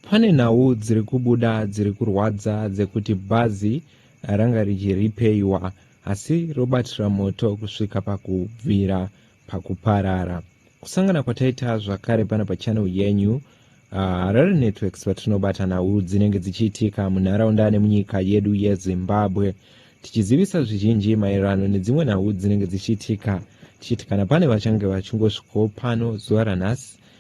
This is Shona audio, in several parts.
Pane nhau dziri kubuda dziri kurwadza dzekuti bhazi ranga richiripeiwa asi robatira moto kusvika pakubvira pakuparara. Kusangana kwataita zvakare pano pachannel yenyu ah, Harare uh, Networks patinobata nhau dzinenge dzichiitika munharaunda nemunyika yedu yeZimbabwe tichizivisa zvizhinji maererano nedzimwe nhau dzinenge dzichiitika tichiti kana pane vachange vachingosvikawo pano zuva ranhasi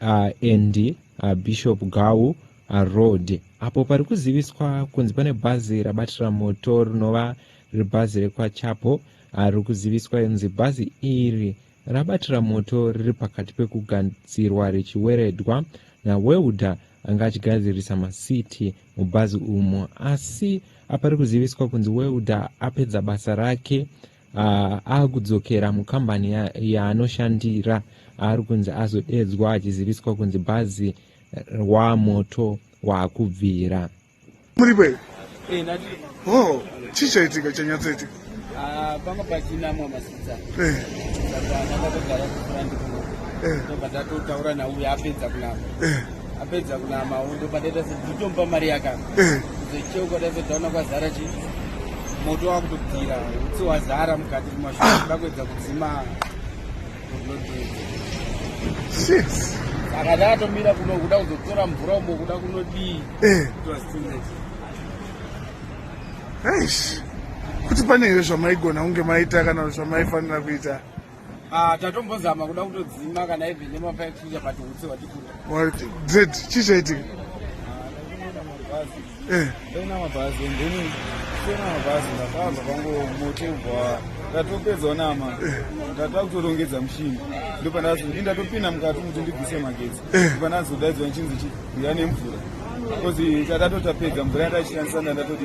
uh, and uh, bishop gawu uh, road apo pari kuziviswa kunzi pane bhazi rabatira moto rinova riri bhazi rekwachapo uh, riri kuziviswa inzi bhazi iri rabatira moto riri pakati pekugadzirwa richiweredwa nawelder anga achigadzirisa masiti mubhazi umo asi apa riri kuziviswa kunzi welder apedza basa rake uh, akudzokera mukambani yaanoshandira ya ari kunzi azodedzwa achiziviswa kunzi bhazi wamoto waakubvira muripe eh, oh, chii chaitika chanyatsoitika ah, panga pachinamwa masidza eh. saka ndakatogara kufura ndikubva eh. ndatotaura nauya apedza kunama apedza kunama undo padaita sedzitomupa mari yakana eh. zecheu kwadaita taona kwazara chi moto wakutobvira utsi wazara mukati mumashoa ah. ndakuedza kudzima saka ndakatomira kuno kuda kuzotora mvura umo kuda kunodii eh. kuti pane here zvamaigona kunge maita kana zvamaifanira kuita Ah, tatombozama kuda kutodzima kana even nemafa ekuchinja but utsi hwatikunda z chii chaitika ndaina eh. mabhazi and then sena mabhazi ndakabva pango mote ubva ndatopedza onama eh. ndata kutorongedza mushini ndopanazo ndi ndatopinda mukati kuti ndibvise magetsi eh. ndopanazo daidzwa nchinzi chiuya nemvura bcause tatatotapeedza mvura yataishandisa ndandatoti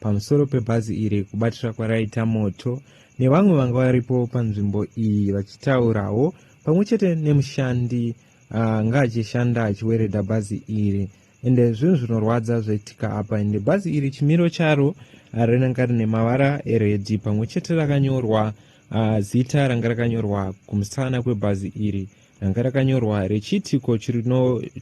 pamusoro pebhazi iri kubatira kwaraita moto nevamwe vanga varipo panzvimbo iyi vachitaurawo pamwe chete nemushandi anga ah, achishanda achiweredha bhazi iri ende zvinhu zvinorwadza zvaitika apa ende bhazi iri chimiro charo ah, rinanga rine mavara eredhi pamwe chete rakanyorwa ah, zita ranga rakanyorwa kumusana kwebhazi iri ranga rakanyorwa rechiitiko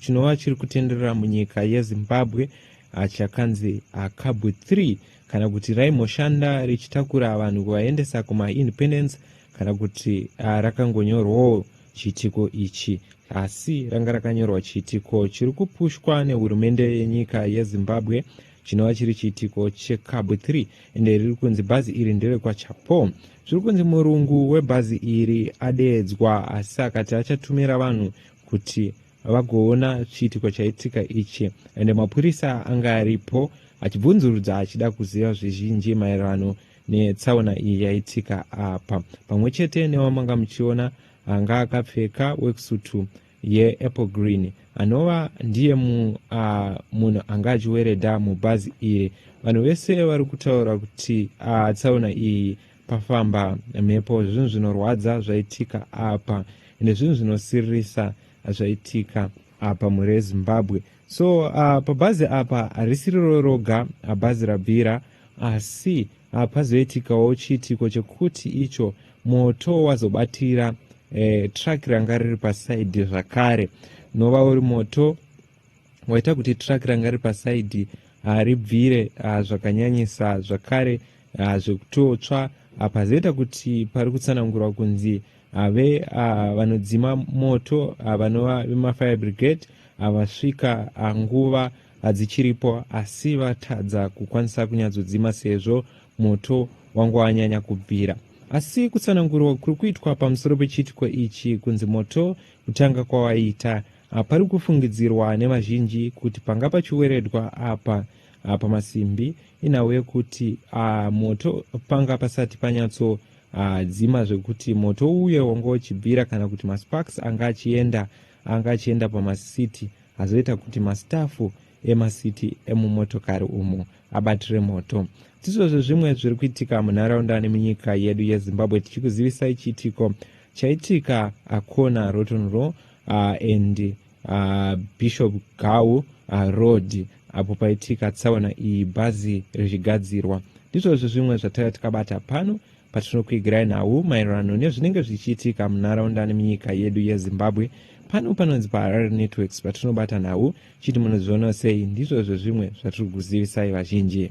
chinova chiri kutenderera munyika yezimbabwe ah, chakanzi akabu ah, 3 kana kuti raimboshanda richitakura vanhu kuvaendesa kumaindependence kana kuti ah, rakangonyorwawo chiitiko ichi asi ranga rakanyorwa chiitiko chiri kupushwa nehurumende yenyika yezimbabwe chinova chiri chiitiko chekabwe 3 ende riri kunzi bhazi iri nderekwachapo zviri kunzi murungu webhazi iri adeedzwa asi akati achatumira vanhu kuti vagoona chiitiko chaitika ichi ende mapurisa anga aripo achibvunzurudza achida kuziva zvizhinji maererano netsaona iyi yaitika apa pamwe chete newamanga muchiona anga akapfeka wekusutu yeapple green anova ndiye mu, uh, munhu anga achiwereda mubhazi iri vanhu vese vari kutaura kuti uh, tsaona iyi pafamba mhepo zvinhu zvinorwadza zvaitika apa ende zvinhu zvinosiririsa zvaitika apa mhuri yezimbabwe so uh, pabhazi apa harisiriro roga bhazi rabvira asi uh, pazoitikawo chiitiko chekuti icho moto wazobatira eh, truck ranga riri pasaidi zvakare nova uri moto waita kuti truck ranga riri pasaidi uh, ribvire uh, zvakanyanyisa zvakare uh, zvekutotsva uh, pazoita kuti pari kutsanangurwa kunzi ave ah, vanodzima moto ah, vanova vemafire brigade havasvika ah, nguva hadzichiripo asi vatadza kukwanisa kunyatsodzima sezvo moto wanga wanyanya kubvira asi kutsanangurwa kuri kuitwa pamusoro pechiitiko ichi kunzi moto kutanga kwawaita ah, pari kufungidzirwa nevazhinji kuti panga pachiweredwa apa ah, pamasimbi inhau yekuti ah, moto panga pasati panyatso Haa dzima zvekuti moto uye wanga uchibvira kana kuti masparks anga achienda anga achienda pamasiti azoita kuti mastafu emasiti emumotokari umo abatire moto ndizvo zvezvimwe zviri kuitika munharaunda nemunyika yedu yezimbabwe tichikuzivisai chiitiko chaitika akona rotonro uh, and uh, bishop gau uh, road apo paitika tsaona iyi bhazi richigadzirwa ndizvozvo zvimwe zvataiva tikabata pano patinokuigirai nhau maererano nezvinenge zvichiitika munharaunda nemunyika yedu yezimbabwe pano panonzi paharare networks patinobata nhau chiti munozvionawo sei ndizvozvo zvimwe zvatiri kuzivisai vazhinji